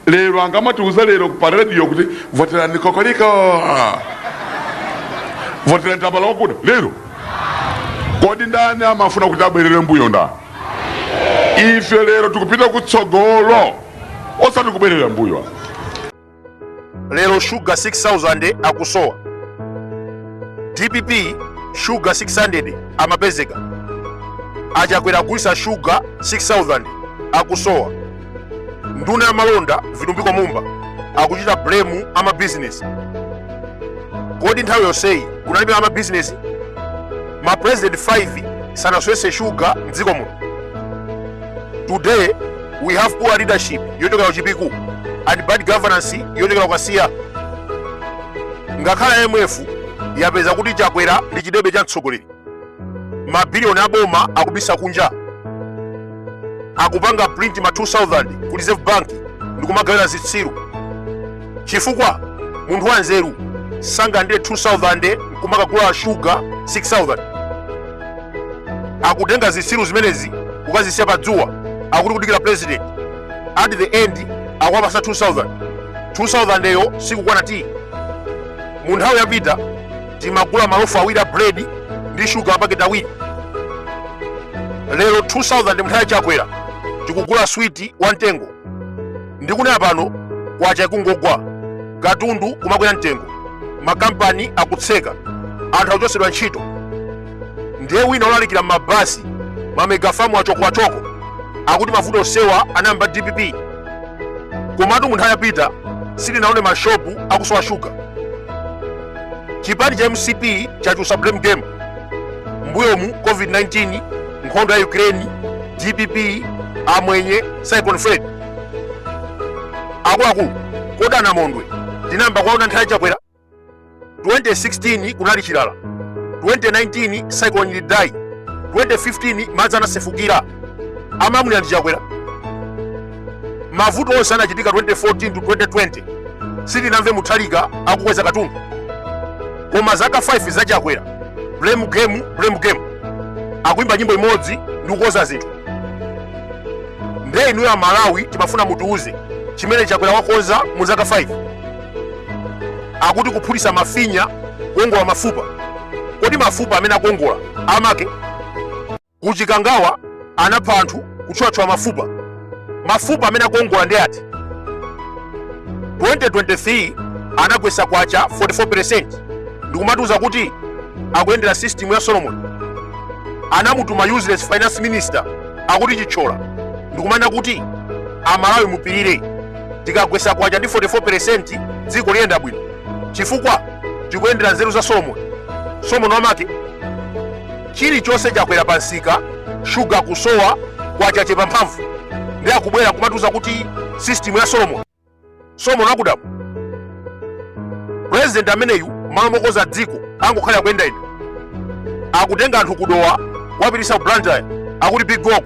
lero angamatiuze lero pa radio kuti voterani kokoliko voterani tambala wakuda lero kodi ndani amafuna kuti abwerere mbuyo ndani ife lero tikupita kutsogolo osati kubwerera mbuyo lero shuga 6000 akusowa dpp shuga 600 amapezeka achakwera agulisa shuga 6000 akusowa nduna ya malonda vitumbiko mumba akuchita blame amabizinesi kodi nthawi yonseyi kunalibe amabizinesi ma president 5 sanasowetse shuga mdziko muno today we have poor leadership yochokera kuchipiku and bad governance yochokera kukasiya ngakhale imf yapeza kuti chakwera ndi chidebe cha mtsogoleri mabiliyoni aboma akubisa kunja akupanga print ma 2000 ku reserve bank ndikumagawira zitsiru chifukwa munthu wanzeru sangalandire 2000 nkumakagula shuga 6000 akutenga zitsiru zimenezi kukazisiya pa dzuwa akuti kudikira president at the end akuwapasa 2000 2000 yo sikukwana ti mu nthawi yapita timagula malofu awiri a bread ndi shuga apaketi awiri lero 2000 mu nthawi ya chakwera tikugula switi wa mtengo ndikunena pano kwacha ikungogwa katundu kumakwera mtengo makampani akutseka anthu akuchotsedwa ntchito ndiye wina olalikira m'mabasi mamegafamu achokoachoko akuti mavuto onsewa anayamba dpp komatu munthawi yapita sitinaone mashopu akusowa shuga chipani cha mcp chachulutsa blame game mbuyomu covid-19 nkhondo ya ukraine dpp amwenye cyclone freddy akuluakulu kodi anamondwe tinayamba kuwaona nthawi ya chakwera 2016 kunali chilala 2019 cyclone idai 2015 madzi anasefukira amalamulira ndi chakwera mavuto onse anachitika 2014 to 2020 sitinamve mutharika akukweza katundu koma zaka 5 zachakwera blame game blame game akuimba nyimbo imodzi ndi kukonza zinthu nde inuyo amalawi timafuna mutiuze chimene chakwera wakonza mu zaka 5 akuti kuphulitsa mafinya kuongola mafupa kodi mafupa amene akuongola amake Ku Chikangawa anapha anthu kutchwatchwa mafupa. Mafupa amene akuongola ndi ati? 2023 anagwesa kwacha 44% ndikumatiuza kuti akuyendera system ya Solomon. Anamutuma useless finance minister akuti Chithyola ndikumanena kuti amalawi mupirire tikagwesa kwacha ndi 44% dziko liyenda bwino chifukwa tikuyendera nzeru za Solomon. Solomon wamake chilichonse chakwera pa msika shuga kusowa kwacha kuchepa mphamvu ndi akubwera kumatiuza kuti system ya solomon solomon akudamu president ameneyu m'malo mokonza dziko angokhalira kuyenda ino akutenga anthu ku Dowa kuwapititsa ku Blantyre akuti big walk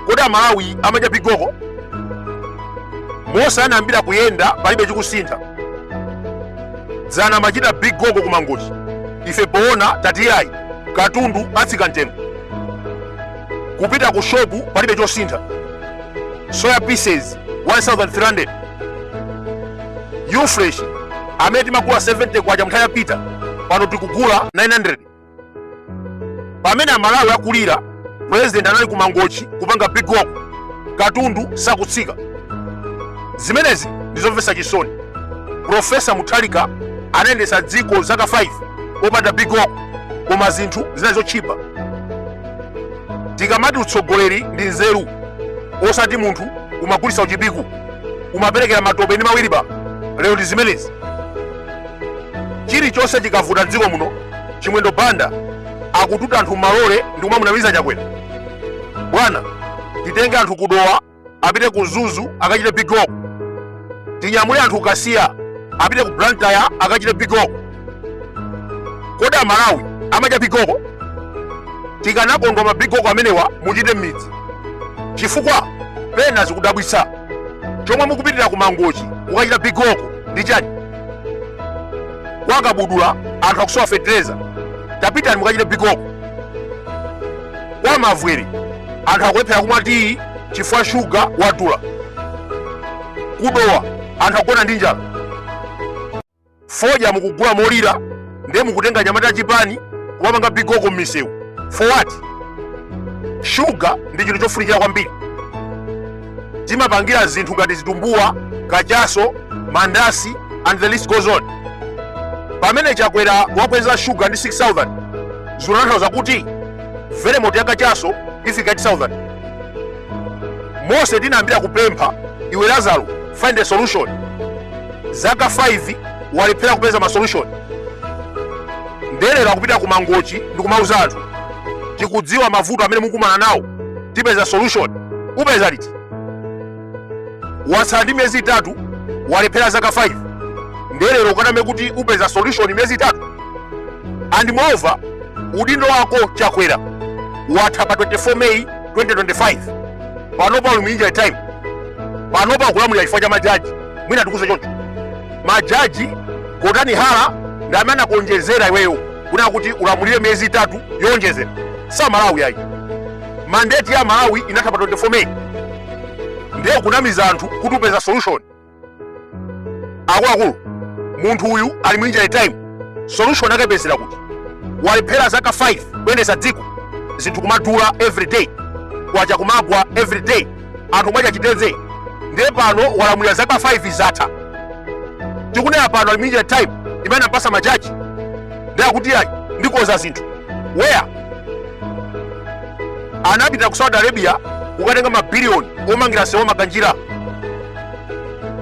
kodi amalawi amadya big walk monse anayambira kuyenda palibe chikusintha dzana amachita big walk ku Mangochi ife poona tati yayi katundu atsika mtengo kupita ku shopu palibe chosintha soya pieces 1300 ufresh amene timagula 70 kwacha mnthawi yapita pano tikugula 900 pamene amalawi akulira president anali ku mangochi kupanga big walk katundu sakutsika zimenezi ndizomvetsa chisoni profesa Mutharika anayendetsa dziko zaka 5 popanda big walk koma zinthu zinali zotchipa tikamati utsogoleri ndi nzeru osati munthu umagulitsa mu Chipiku umaperekera matope ndi ma wilibala lero ndi zimenezi chilichonse chikavuta m'dziko muno chimwendo banda akututa anthu m'malole ndi kumamunamiza chakwera bwana titenge anthu ku Dowa apite ku Mzuzu akachite big walk tinyamule anthu ku Kasiya apite ku blantyre akachite big walk kodi amalawi amadya big walk tikanakondwa ma big walk amenewa muchite m'midzi chifukwa pena zikudabwitsa chomwe mukupitira ku mangochi kukachita big walk ndi chani kwa kabudula anthu akusowa fetereza tapitani mukachite big walk kwa mavwere anthu akulephera kumwa tiyi chifukwa shuga wadula ku Dowa anthu akugona ndi njala fodya mukugula molira ndiye mukutenga anyamata a chipani kumapanga big walk m'misewu for what shuga ndi chinthu chofunikira kwambiri timapangira zinthu ngati zitumbuwa kachaso mandasi and the list goes on pamene chakwera wakweza shuga ndi 6000 zikutanthauza kuti velemoti ya kachaso ifika 8000 monse tinayambira kupempha iwe lazaro find a solution zaka 5 walephera kupeza masolution nde lero akupita ku mangochi ndikumauza anthu tikudziwa mavuto amene mukumana nawo tipeza solution upeza liti watsala ndi miyezi itatu walephera zaka 5 nde lero ukaname kuti upeza solution miyezi itatu and moreover udindo wako chakwera watha pa 24 may 2025 panopa uli mu injury time panopa ukulamulira chifukwa cha majaji mwina tikuuze choncho majaji ku high court ndi amene anakuonjezera iweyo kunena kuti ulamulire miyezi itatu yowonjezera si amalawi ayi mandate ya amalawi inatha pa 24 meyi ndiye kunamiza anthu kuti upeza solution akuluakulu munthu uyu ali mu injury time solution akaipezera kuti walephera zaka 5 kuyendesa dziko zinthu kumadula every day kwacha kumagwa every day anthu mwacha chiteze ndiye pano walamulira zaka 5 zatha tikunena pano ali mu injury time imene anampasa majaji ndiye akuti ayi ndikoza zinthu where anapita ku saudi arabia kukatenga mabiliyoni omangira nsewu wa makanjira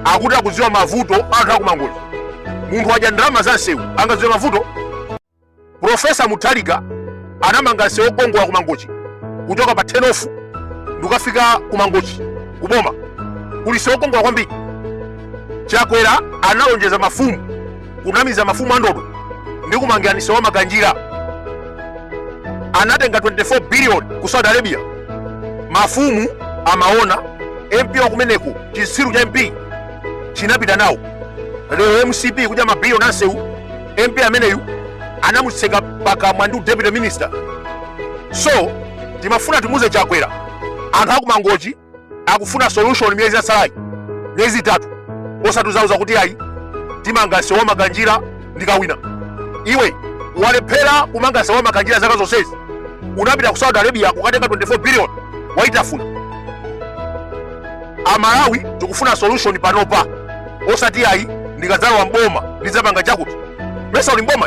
akuti akudziwa mavuto a anthu akumangochi munthu wadya ndalama za nsewu angadziwe mavuto Profesa Mutharika anamanga nsewu wokongola ku Mangochi kuchoka pa turn-off ndikukafika ku Mangochi ku boma kuli nsewu wokongola kwambiri. Chakwera analonjeza mafumu kunamiza mafumu anthu ndikumangirani nsewu wa Makanjira. Anatenga 24 billion ku Saudi Arabia. Mafumu amaona MP wa kumeneko chitsiru cha MP chinapita nawo. Lero MCP kudya mabiliyoni ansewu mp ameneyu anamutseka pakamwa ndi udeputy minister so timafuna timuze chakwera anthu akumangochi akufuna solution miyezi yasalayi miyezi itatu osatizauza kuti ayi timanga sewu wa makanjira ndikawina iwe walephera kumanga sewu wa makanjira zaka zonsezi unapita ku saudi arabia kukatenga 24 billion waitafuna amalawi tikufuna solution panopa osati ayi ndikadzalowa mboma ndidzapanga chakuti mesa uli mboma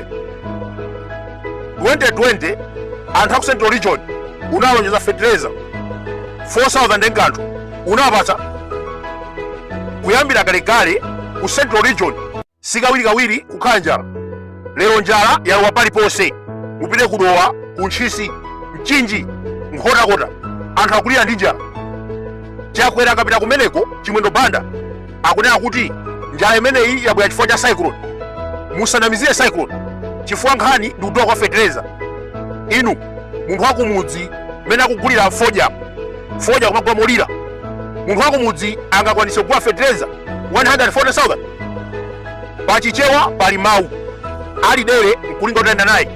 2020 anthu a ku central region unalonjeza fertilizer 4000 nkanthu unawapatsa kuyambira kalekale ku central region sikawirikawiri kukhala njala lero njala yalowa paliponse upite kudowa ku ntchisi mchinji nkhotakota anthu akulira ndi njala chakwera akapita kumeneko chimwendo banda akunena kuti njala imeneyi yabwera chifukwa cha cyclone musanamizire cyclone chifukwa nkhani ndi kudula kwa fetereza inu munthu wakumudzi mmene akugulira fodya fodya kumagula molira munthu wakumudzi angakwanise kugula fetereza 140000 pa chichewa pali mawu ali dere nkulinga utayenda naye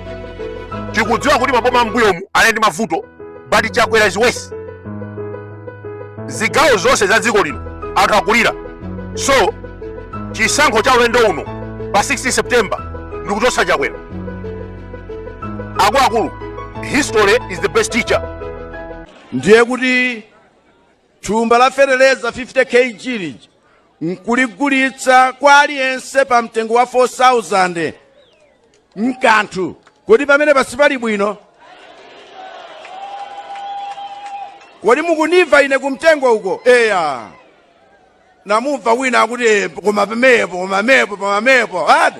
tikudziwa kuti maboma mbuyomu anali ndi mavuto but chakwera is worse zigawo zonse za dziko lino anthu akulira so chisankho cha ulendo uno pa 16 september ndikuchotsa chakwera akuluakulu history is the best teacher ndiye kuti Thumba la feteleza 50 kg lija nkuligulitsa kwa aliyense pa mtengo wa 4000 mkanthu kodi pamene pasi pali bwino kodi mukundimva ine kumtengo uko eya namumva wina akuti "Eh, koma pamepo koma mepo pamamepo ati